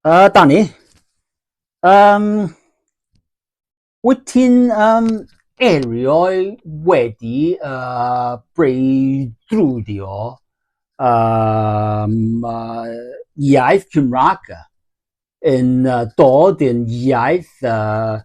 Uh, Danny, um, wyt ti'n um, erioed wedi uh, breidrwdio um, uh, iaith Cymraeg yn uh, dod yn iaith uh,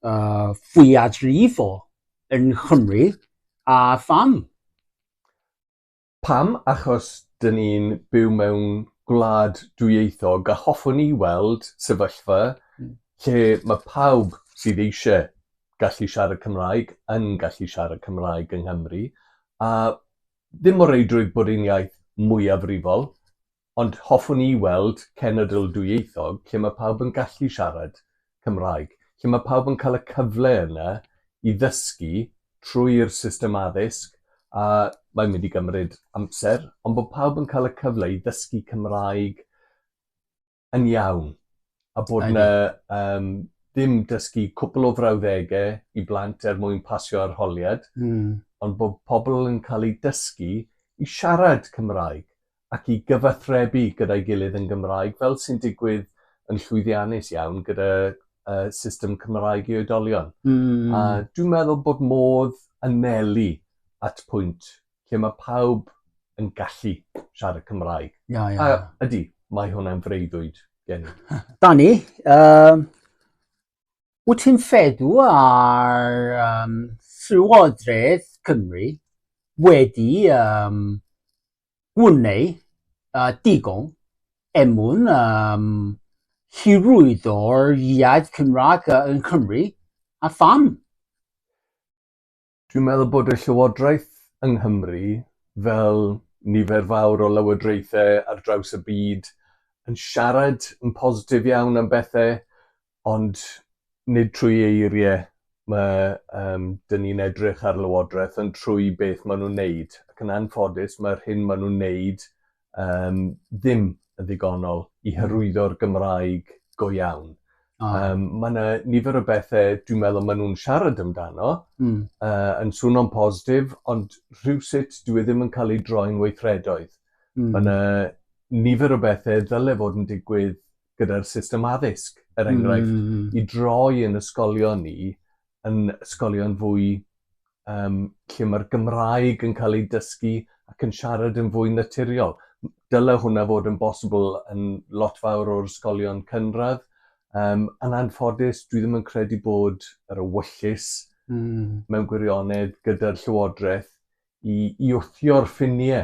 uh, fwyafrifol yn Chymru a pham? Pam? Achos dyn ni'n byw mewn gwlad dwyieithog a hoffwn i weld sefyllfa lle mae pawb sydd eisiau gallu siarad Cymraeg yn gallu siarad Cymraeg yng Nghymru a ddim o reidrwydd bod ein iaith mwyafrifol Ond hoffwn i weld cenedl dwyieithog lle mae pawb yn gallu siarad Cymraeg, lle mae pawb yn cael y cyfle yna i ddysgu trwy'r system addysg, a mae'n mynd i gymryd amser, ond bod pawb yn cael y cyfle i ddysgu Cymraeg yn iawn, a bod yna um, ddim dysgu cwpl o frawddegau i blant er mwyn pasio arholiad, mm. ond bod pobl yn cael eu dysgu i siarad Cymraeg ac i gyfathrebu gyda'i gilydd yn Gymraeg, fel sy'n digwydd yn llwyddiannus iawn gyda uh, system Cymraeg i oedolion. Mm. A dwi'n meddwl bod modd anelu at pwynt lle mae pawb yn gallu siarad Cymraeg. Ia, ia. A ydy, mae hwnna'n freuddwyd gen i. Dani, um, wyt ti'n feddw ar um, Llywodraeth Cymru wedi um, Gwnei a digon er mwyn yym hyrwyddo'r iaith Cymraeg yn Cymru, a pham? Dwi'n meddwl bod y Llywodraeth yng Nghymru, fel nifer fawr o lywodraethau ar draws y byd, yn siarad yn positif iawn am bethau ond nid trwy eirie ma' yym 'dyn ni'n edrych ar Lywodraeth ond trwy beth ma' nw'n neud ac yn anffodus ma'r hyn ma' nw'n neud yym ddim yn ddigonol i hyrwyddo'r Gymraeg go iawn. Oh. Um, mae yna nifer o bethau dwi'n meddwl maen nhw'n siarad amdano, mm. uh, yn swno'n positif, ond rhywsut dwi e ddim yn cael ei droi'n weithredoedd. Mm. Mae yna nifer o bethau ddyle fod yn digwydd gyda'r system addysg er enghraifft... Hmm. ...i droi yn ysgolion ni yn ysgolion fwy yym lle ma'r Gymraeg yn ca'l ei dysgu ac yn siarad yn fwy naturiol. M- dyle hwnna fod yn bosibl yn lot fawr o'r ysgolion cynradd yym yn anffodus dwi ddim yn credu bod yr ewyllys... Hmm. ...mewn gwirionedd gyda'r llywodreth i i wthio'r ffinie